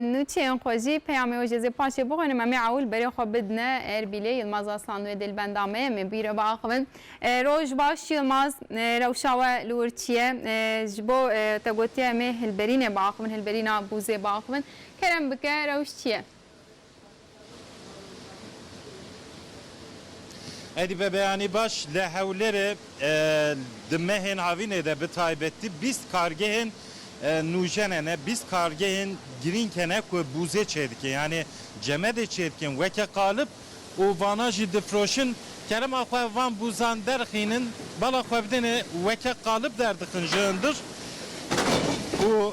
Nûçeyên xwe jî peyamê wê jê zê paşê bixwîne Memê Ewil berê xwe bidine Erbîlê Yilmaz Aslan wê dilbenda me ye, em ê bi wî re biaxivin. Roj baş Yilmaz, rewşa we li wir çi ye? Ji bo te gotiye em ê Hilberînê biaxivin, Hilberîna Bûzê biaxivin. Kerem bike rewş çi ye? Êdî be beyanî baş li Hewlêrê di mehên havînê de bi taybetî bîst kargehên nûjene ne bîst kargehên girîng hene ku bûzê çêdikin yanî cemedê çêdikin weke qalib û vanan jî difiroşin kerema xwe van bûzan derxînin bala xwe bidêne weke qalib derdixin ji hundir û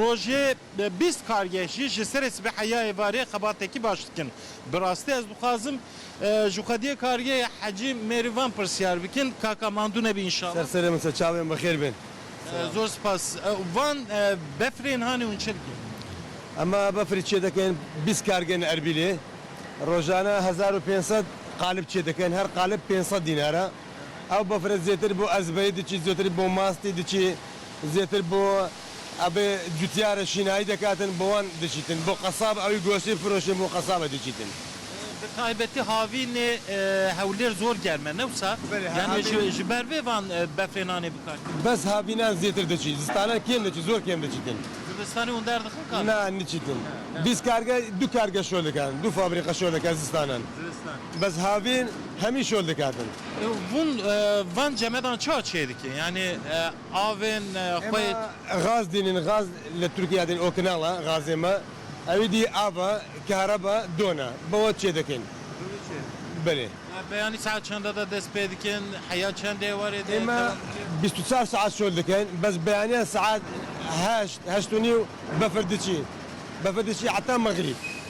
Rojê bîst kargeh jî ji serê sibê heya êvarê xebatekî baş dikin. Bi rastî ez dixwazim ji xwediyê kargehê Hecî Mêrîvan pirsyar bikin. Kaka mandû nebî înşala. Ser serê min ser çavên bi xêr bên. Zor spas. Van befrên hanê hûn çi dikin? Ema befrî çêdikin bîst kargeh in Erbîlê. Rojane hezar û pênc sed qalib çêdikin. Her qalib pênc sed dînar e. Ew bafirê zêtir bo ezbeyî diçî, zêtir bo mastî diçî, zêtir bo ebê cutiyarê şînayî de ketin bo wan diçîtin. Bo qesab ewî goştê firoşê bo qesabê diçîtin. Bi taybetî havînê Hewlêr zor germ e ne wisa? Belê yani ji ber vê van befrê nanê bikar tînin? Bes havînan zêtir diçî. Zistanan kêm diçî zor kêm diçîtin. Zivistanê hûn derdixin kar? Na niçîtin. Bîst karge du karge şo dikin. Du fabrîka şo dikin zistanan. Bez havîn hemî şol dikerdin. Hûn van cemedan çawa çê dikin? Yanî avên xwe yê. Ema gaz dînin, gaz li Tirkîya dîn Okinal e gazê me. Ewî dî av e, kehreba don e. Bi we çê dikin. Bi wî çê dikin. Belê. Beyanî saet çanda de dest pê dikin? Heya çendê warê de dewam dike? Ema bîst û çar saet şol dikin. Bez beyaniya saet heşt, heşt û nîw befir diçî. Befir diçî heta mexrîb.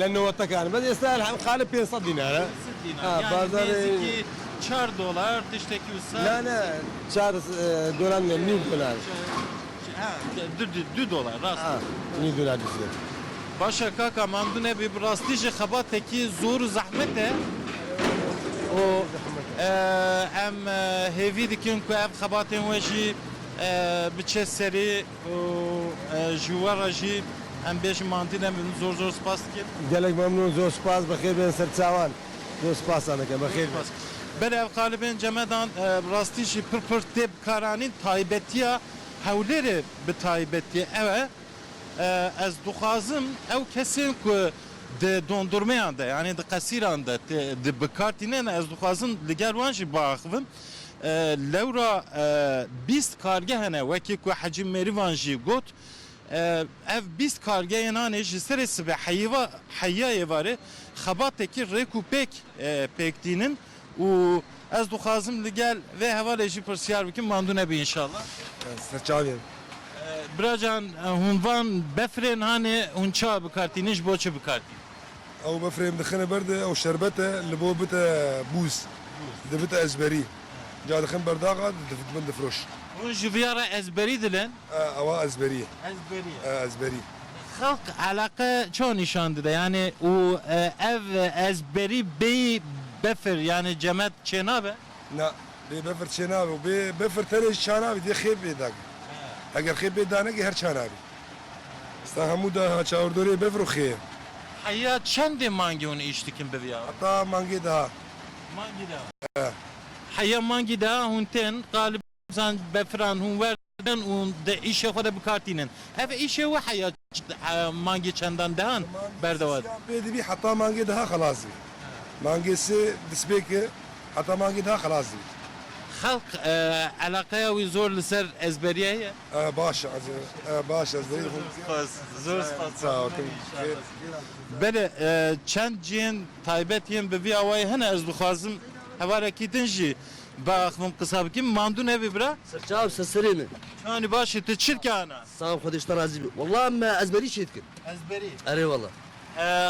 Lê nowetekan bes êsta elhem qali pênc sed dînar e. Pênc sed dînar. Yani Bazarê- nêzîkî çar dolar tiştekî wisa. Na na çar dolar ne nîv dolar. Ha du du du dolar rast Ha e. nîv dolar diştê. Baş e kaka mamdû ne bî bi rastî jî xebatekî zor û zehmet e. Û em hêvî dikin ku ev xebatên we jî biçe serî. Û ji we re jî em bêjin Mandîne min zor zor spas dikim. Gelek memnûn zor spas bi xêr bêne ser çawan zor spasan dikim bi xêr bêne. Belê ev qalibên cemedan bi rastî jî pir pir tê bikaranîn taybetiya Hewlêrê bi taybetî ew e ez dixwazim ew kesên ku di dondurmeyan de yanî di qesîran de tê di bikartînin ez dixwazim li gel wan jî biaxivim. Lewra bîst karge hene wekî ku Hecî Mêrîvan jî got, ev bîst kargeyên anê ji serê sibê heyîva heyîyayê varê xebatekî rêk û pêk pêk tînin û ez dixwazim li gel vê hevalê jî pirsiyar bikim mandu nebî înşallah. Ez li çavê im. Biracan hûn van befirên hanê hûn çawa bikar tînin ji bo çi bikar tînin? Ew befirê em dixine ber de ew şerbet e li bo bite bûz. Dibite ezberî. Ca dixin ber daxa dibin difiroş. Hûn ji viya re ezberî dilin? Ewa ezberî ye. Ezberî ye. Ezberî. Xelk eleqe çawa nîşan dide yanî û ev ezberî bêyî befir yanî cemet çênabe? Na, bê befir çênabe û bê befir tenê jî çanabî dê xêb bê dagî. Eger xêb bê danegî her çanabî. Sta hemû da ha çawirdorê befir û xê ye. Heya çendê mangê hûn îş dikin bivîya? Heta mangê deha. Mangê deha. Heya mangê deha hûn tên qalibî. Zan befiran hûn werdidan û di îşê xwe de bi kar tînin. Ev îşê wiha ya mangê çendan dehan berdewam e? Mangê sê yan pê dibî heta mangê deha xelas dibî. Mangê sê dispêk e heta mangê deha xelas dibî. Xelk eleqeya wî zor li ser ezberiyê heye? Ew baş e ez ew baş e ezberiyê dixwim. Zor spas. Zor spas. Sağ ol. Belê çend cihên taybet yên bi vî awayî hene. Ez dixwazim hevarekî din jî. Ba axivin qisa bikîm mandu nebî bira. Sirçav se serê min. Çanî baş î ti çirke ana. Saw Xwedê ji te razî be. Wela me ezberî çê dikim. Ezberî? Erê wela.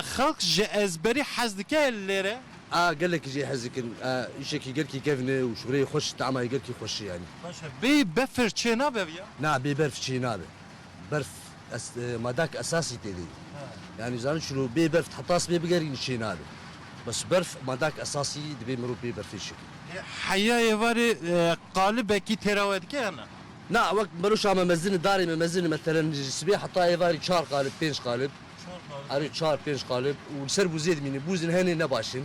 Xelk ji ezberî hez dike lêre? A gelekî jê hez dikin. Îşekî gelkî kevn e û şûreyê xweş tamayê gelkî xweş e yanî. Baş e. Bêyî befir çê nabe viya? Na bê berf çê nabe. Berf Es madek esasî tê de. Yanî zanî şino bê berf heta sibê bigerînî çê nabe. Bes berf madek esasî dibê mirov bê berfê şikî. Heya êvarê qalibekî têra we dike ya na? Na wek beroşa me mezin darê me mezin me telen sibê heta êvarî çar qalib pênc qalib. Çar qalib. Erê çar pênc qalib û li ser bûzê dimîne. Bûzên henê ne baş in.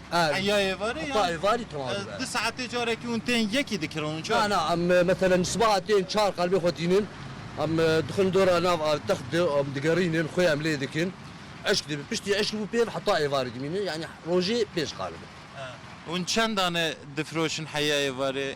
Heya êvarê yan? Heta êvarî tema dibe. Di saetê carekî hûn tên yekî dikirin hûn çar? Na na em meselen ji sibaha tên çar qelbê xwe tînin em dixin dora nav a text de û em digerînin xwe em lê dikin eşk dibin piştî eşkî bû pêv heta êvarî dimînin yanî rojê pênc qalibe. Hûn çendane difiroşin heya êvarê?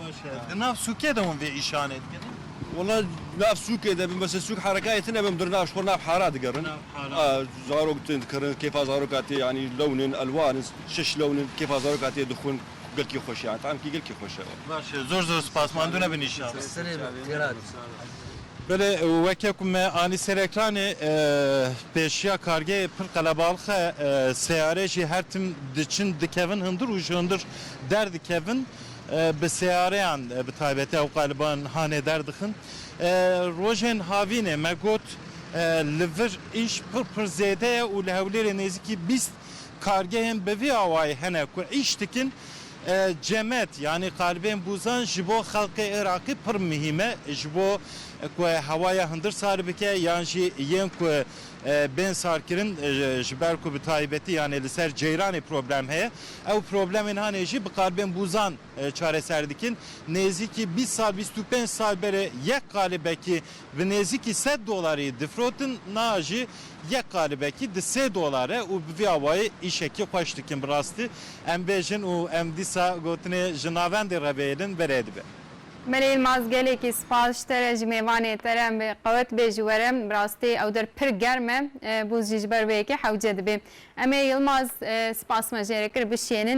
Baş e. Di nav sûkê de hûn vê îşanê dikin? Wela nav sûkê de bin bes sûk herekayê tune bin birna ji xwe nav hara digerin. Zarok tên dikirin, kêfa zaroka tê yanî lewn in, elwan in, şeş lewn in, kêfa zaroka tê dixwin gelkî xweş e. Yanî tamkî gelkî xweş e. Baş e. Zor zor spas. Mandu nebin îşan. Serê min têra dît. Belê weke ku me anî ser ekranê pêşiya kargeyê pir qelebalix e. Seyare jî her tim diçin dikevin hundir û ji hundir derdikevin. Bi seyareyan bi taybetî ew qaliban hanê derdixin. Rojên havînê me got li vir îş pir pir zêde ye û li Hewlêrê nêzîkî bîst kargehên bi vî awayî hene ku îş dikin. Cemet yanî qalibên bûzan ji bo xelkê Iraqî pir mihîm e ji bo ku hewaya hundir sar bike yan jî yên ku bên sarkirin ji ber ku bi taybetî yanê li ser ceyranê problem heye. Ew problemên hanê jî bi qalibên bûzan çareser dikin. Nêzîkî bîst sal, bîst û pênc sal berê yek qalibekî bi nêzîkî sed dolarî difirotin, niha jî yek qalibekî di sê dolar e û bi vî awayî îşekî xweş dikin. Bi rastî em bêjin û em dîsa gotinê ji navendê re bêhêlin berê dibe. Mele Yilmaz gelekî spas ji te re ji mêvanê te re em ê qewet bê ji we re bi rastî ew der pir germ e bûz jî ji ber vê yekê hewce dibê. Em ê Yilmaz spas me jê re kir bişênin.